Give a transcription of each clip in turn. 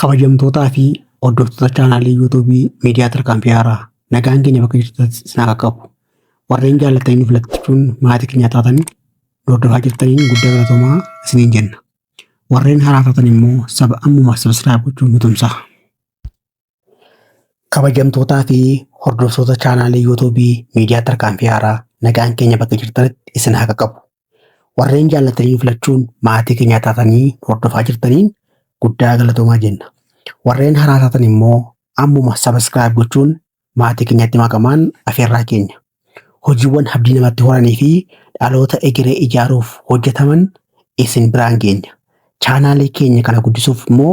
Kabajamtootaa fi hordoftoota chaanaalii yuutuubii miidiyaa tarkaanfii haaraa nagaan keenya bakka jirtan sinaa qaqqabu. Warreen jaallatanii nuuf lakkichuun maatii keenya taatan hordofaa jirtaniin guddaa galatoomaa isiniin jenna. Warreen haaraa taatan immoo saba ammuma sabiskiraayib gochuun nu tumsaa. Kabajamtootaa fi hordoftoota chaanaalii yuutuubii miidiyaa tarkaanfii haaraa nagaan keenya bakka jirtanitti isin haa qaqqabu. Warreen jaallatanii filachuun maatii keenyaa taatanii hordofaa jirtaniin guddaa galatoomaa jenna. Warreen haraa taatan immoo ammuma sabiskiraayib gochuun maatii keenyatti makamaan afeerraa keenya. Hojiiwwan abdii namatti horanii fi dhaloota egeree ijaaruuf hojjetaman isin biraan geenya. Chaanaalii keenya kana guddisuuf immoo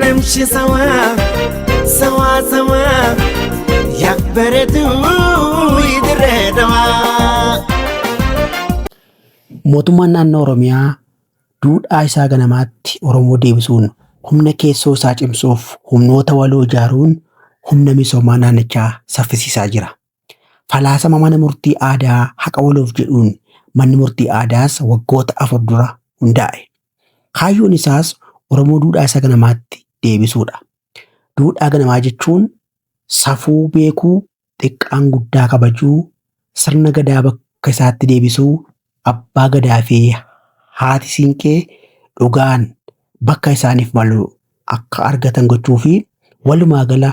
Namshi sawaa sawaa sawaa yaa bareeduu idirree dawaa. Mootummaan naannoo Oromiyaa duudhaa isaa ganamaatti Oromoo deebisuun humna keessoo isaa cimsuuf humnoota waloo ijaaruun humna misoomaa naannichaa saffisiisaa jira. Falaasama mana murtii aadaa haqa waloof jedhuun manni murtii aadaas waggoota afur dura hundaa'e. Kaayyoon isaas Oromoo duudhaa isa ganamaatti deebisuudha. Duudhaa ganamaa jechuun safuu beekuu, xiqqaan guddaa kabajuu, sirna gadaa bakka isaatti deebisuu, abbaa gadaa fi haati siinqee dhugaan bakka isaaniif malu akka argatan gochuu fi walumaa gala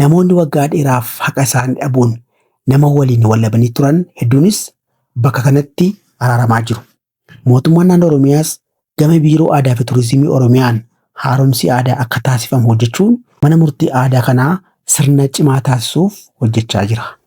Namoonni waggaa dheeraaf haqa isaanii dhabuun nama waliin wallabanii turan hedduunis bakka kanatti araaramaa jiru. Mootummaan naannoo Oromiyaas gama Biiroo Aadaa fi Turizimii Oromiyaan haaromsi aadaa akka taasifamu hojjechuun mana murtii aadaa kanaa sirna cimaa taasisuuf hojjechaa jira.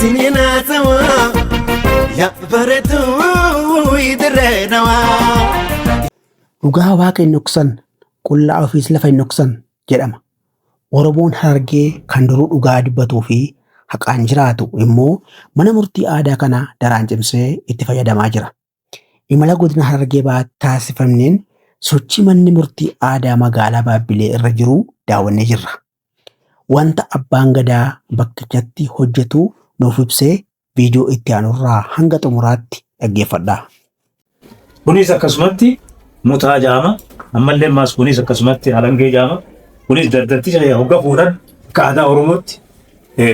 Siniin haasawaa yaa bareedduu idirree nawaa. Dhugaa waaqa hin dhoksan, qullaa ofiis lafa hin dhoksan jedhama. Oromoon Harargee kan duruu dhugaa dubbatuu fi haqaan jiraatu immoo mana murtii aadaa kana daraan cimsee itti fayyadamaa jira. Imala godina Harargee Bahaatti taasifamneen sochii manni murtii aadaa magaalaa Baabbilee irra jiru daawwannee jirra. Wanta abbaan gadaa bakkichatti hojjetu nuuf ibsee viidiyoo itti aanurraa hanga xumuraatti dhaggeeffadha. Kunis akkasumatti mutaa jaama ammallee maas kunis akkasumatti alangee jaama kunis dardarticha hogga fuudhan akka aadaa Oromootti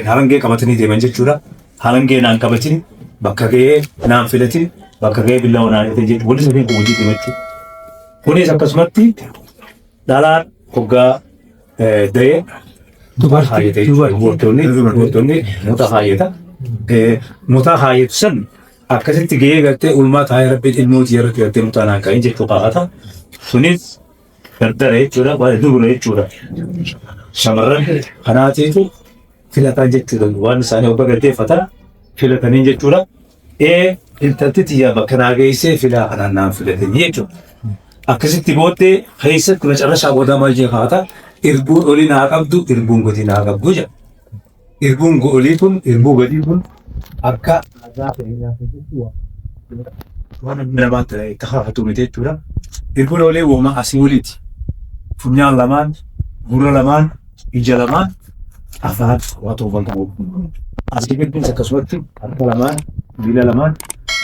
Harangee qabatanii deeman jechuudha. Harangee naan qabatin bakka ga'ee naan filatin bakka ga'ee billawa naan hidhe jechuudha. Walitti safee walitti deema jechuudha. Kunis akkasumatti dhalaan hoggaa da'ee mutaa haayata jechuudha. Dubartoonni dubartoonni mutaa haayata. Mutaa haayatu san akkasitti ga'ee galtee ulmaa taa'ee rabbiin ilmoo tiyya irratti galtee mutaa naan ka'in jechuu kaa'ata. Sunis Dardara jechuudha waan iddoo gurra jechuudha. Shamarran kanaatiitu filataan jechuudha waan isaanii obba gaggeeffata filataniin jechuudha. Ee intalti tiyyaa bakka naa geessee filaa kanaan naan filatanii jechuudha. Akkasitti booddee keessatti macarrashaa boodaa maal jee kaata irbuun olii naa qabdu irbuun gadi naa qabdu jedha. Irbuun goolii kun irbuu gadii kun akka aadaa keenyaa keessatti waan waan inni namaa ta'e itti haafatu miti jechuudha. Irbuun olee uumamaa asii oliiti. Funyaan lamaan, gurra lamaan, ija lamaan, afaan waa toofan qabu. Asii gaddiis akkasumatti harka lamaan, miila lamaan,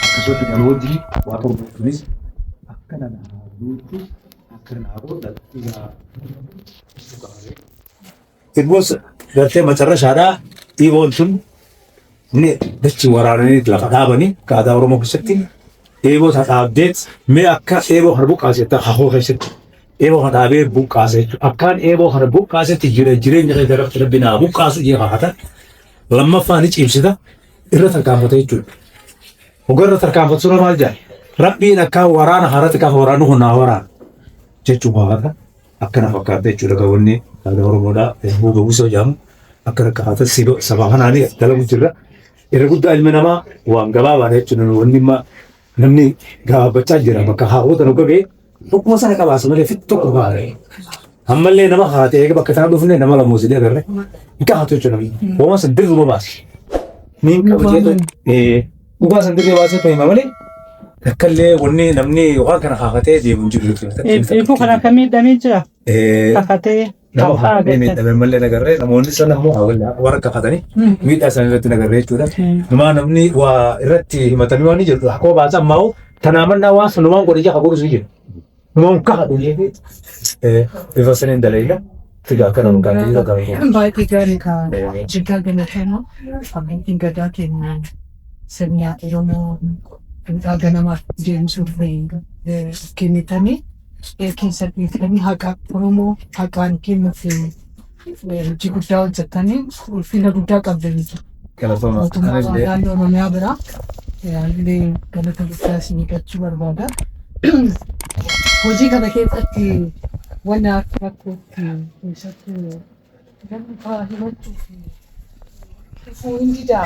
akkasumatti kan hojii waa toofan kunis akka nama haaduutti akka nama godhatti yaa. It was gartee macarrashaadhaa dhiiboon sun ni dachi waraananii lafa dhaabanii akka aadaa Oromoo keessatti eeboo ta dhaabdeet mee akka eeboo kana buqqaase jettaa hahoo keessatti eeboo kana dhaabee buqqaase jechuudha. Akkaan eeboo kana buqqaasetti jira jireenya keessa irratti rabbi naa buqqaasu jee kakata lammaffaa ni cimsita irra tarkaanfata jechuudha. Hogarra tarkaanfatu sura maal jedha? Rabbiin akkaan waraana haratti kafa waraanu kun naa waraana jechuun kakata. Akka na fakkaatte jechuudha egaa wanni aadaa Oromoodhaa Erbuu Gawwisoo jedhamu akka rakkaataa siba sabaa kanaanii as dalagu jirra. Irra guddaa ilmi namaa waan gabaabaadha jechuudha nu wanni imma namni gabaabbachaa jira bakka haawwota nu gagee tokkuma sana qabaasa malee fit tokko kaa'e. Ammallee nama haatee eega bakka isaan dhufne nama lamuus illee agarre hin kaa'atu jechuudha namni. Hoomas dirruma baasi. Niin Nama qabatee amanna. Eh, Dhugaa san dirree baasee hima malee akkallee wanni namni waan kana haafatee deemu hin jiru jechuudha. Eebbuu kana akka miidhamee jira. Kakatee. Nama haafatee miidhame malee nagarree namoonni sana immoo warra kafatanii miidhaa isaanii irratti nagarree jechuudha. Numaa namni waa irratti himatamee waan jedhu akkuma baasa ammaa tanaa mannaa waan sanumaan godhe jaha godhu sun jedhu. Monka haɗu jechuun bifa saniin dalagaa figaa kana nu gaafii irra gaafii. Baay'ee gaarii ka jiggaa galateema abbootiin gadaa keenya sirna Oromoo duudhaa ganamaa deemsuu kennitanii keessatti haqaa Oromoo haqaan kennuuf hojii guddaa hojjettanii ulfina guddaa qabdanii jiru. Galatoomaa. Mootummaa Anillee naannoo Oromiyaa biraa illee galata guddaa isin eeggachuu barbaada. Hojii kana keessatti wanna akka rakkootti keessattuu namni faa himachuu fi dhufuu hin didaa.